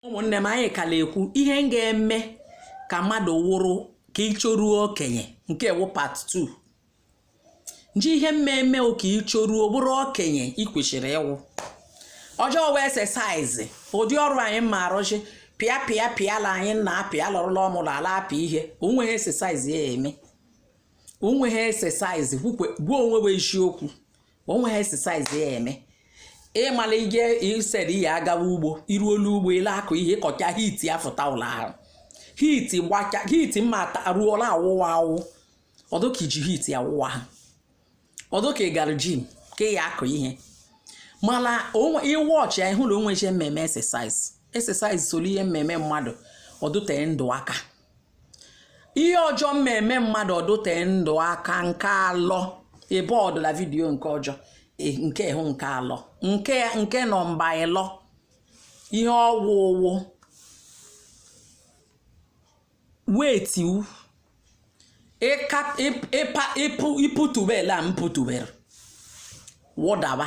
ụmụnne m anyị kala ekwu ihe m ga-eme ka mmadụ wụrụ ka i choruo okenye nke wụ part 2 nji ihe mmemme ka i choruo wụrụ okenye ị kwesịrị ịwụ ọjọ wụ exercise ụdị ọrụ anyị ma arụchi pịa pịa pịala anyị na apịa lọrụ ala ọmụrụ ala apị ihe onweghị exercise ya eme onweghị exercise gwukwe gbuo onwe bụ eziokwu onweghị exercise ya eme ịmala ije ised ya agawa ugbo ịrụ ọlụ ugbo ị la akụ ihe ị kọcha heat afụta la ahụ heat gbacha heat mma ruola awụwa awụ ọ dụ ka i ji heat awụwa ahụ ọ dụ ka ị gara gym ka ị ya akụ ihe mana ịwọchị ya ịhụ na onweghị mmemme exercise exercise so la ihe mmemme mmadụ ọ dụtee ndụ aka ihe ọjọ mma eme mmadụ ọ dụte ndụ aka nke alọ ebe ọ dụ la video nke ọjọ e, nke hụ nke alọ nke nke nọmba ịlọ ihe ọ wụ wụ weight ịpụtubela m pụtubere wụdaba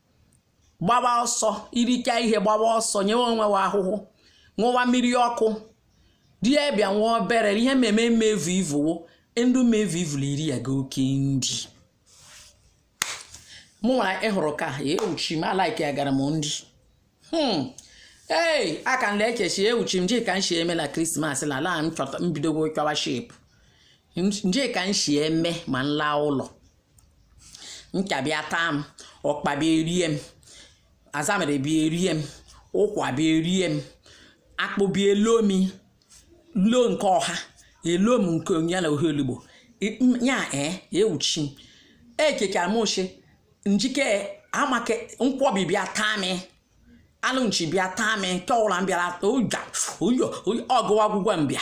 gbaba ọsọ i richa ihe gbaba ọsọ nyewe onwe wa ahụhụ ṅụwa mmiri ọkụ di ya bịa nwa obere ihe mmemme mmevu ivuwo ndị mmevu ivu la iri ya ga oke ndị mụ nwara ịhụrụ ka ya ewuchi m alaiki ya gara m ndị hmm. ee aka nle ekechi ewuchi m jika nshi eme na krismas na ala m chọta mbidogo chọwa shape njika nshi eme ma nla ụlọ ncha bịa taa m ọkpa bịa erie m azamere bịa erie m ụkwa bịa erie m akpụ bịa elo m lo nke ọha elo m nke ya na ohe olugbu ya ee ewuchi m ekekara m oche njike amake nkwọbi bịa taa m alụ nchi bịa taa m nke ọ wụla m bịara oja oyo ọgụwa agwụgwa m bịa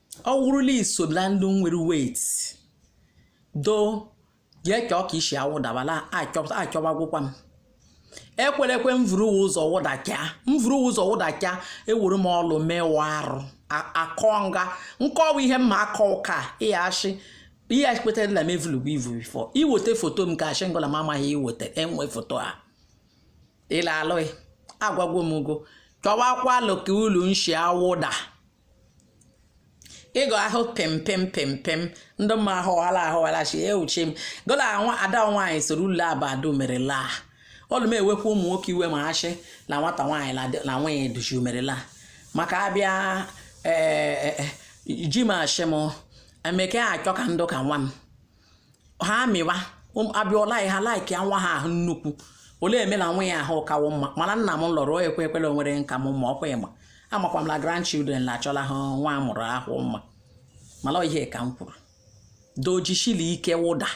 ọ wụrụ la i so na ndị nwere weight doo jee chọọ ka i si awụdabala achọ- achọwagwụkwa m ekwere ekwe m vuru ụzọ wụdacha m vuru ụzọ wụdacha ewere m ọlụ mewa arụ a- akọ nga nkọwa ihe mma akọ ụka ịghachi ihe kpetara na m evulugwu ivu before iweta foto m ka achị ngụla m amaghị iweta enwe foto a ịla alụghị agwagwo m ugo chọwakwa alụ ka ulu nshi awụda ịgọ ahụ pịm pịm pịm pịm ndị mma ahụwala ahụwala chi ewuchi m gola nwa ada nwaanyị soro ule abadu mere laa olu m ewekwa ụmụ nwoke iwe ma achị na nwata nwaanyị na nwunye duchi mere laa maka abịa ee ji m achị m emeke achọ ka m dụ ka nwa m ha amịwa um, abịọla ha like nwa ha ahụ nnukwu ọ le eme na nwa ya ahụ kawo mma mana nna m lọrọ ekwe ekwele o nwere nka m ma ọkwa ị ma amakwa m na grandchildren na achọla ha nwa amụrụ ahụ mma mana ihe ka m kwuru dojishili ike wụda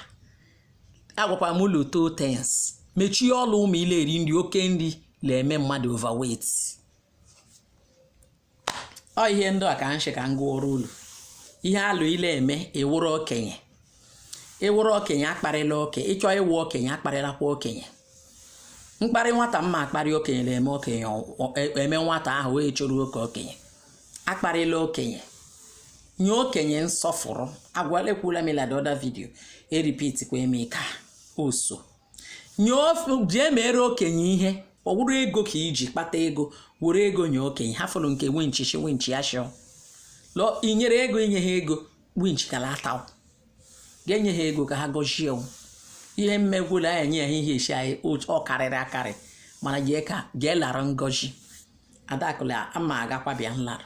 agwakwa m ulu two things mechie ọlụ ụmụ ile eri nri oke nri na-eme mmadụ overweight ọ ihe ndị a ka m shị ka m gụọrọ unu ihe alụ ile eme ị wụrụ okenye ị wụrụ okenye akparịla oke ị chọọ ịwụ okenye akparịlakwa okenye mkparị nwata mma akparị okenye na-eme okenye eme nwata ahụ wee chụrụ oke okenye akparịla okenye nye okenye nsọfụrụ agwala ekwula m ya la the other video e-repeat kwa m ya ka ọzọ nye ofe jee mere okenye ihe ọ wụrụ ego ka i ji kpata ego were ego nye okenye hafụrụ nke winchi shi winchi ya shịọ lọ i nyere ego i nye ha ego winchi ka la-ata ga-enye ha ego ka ha gọzie o. ihe mmegwula anyị enye ya ihe esi anyị otu- ọ karịrị akarị mana jee ka jee lara ngọzi adakụla ama agakwa bịa nlara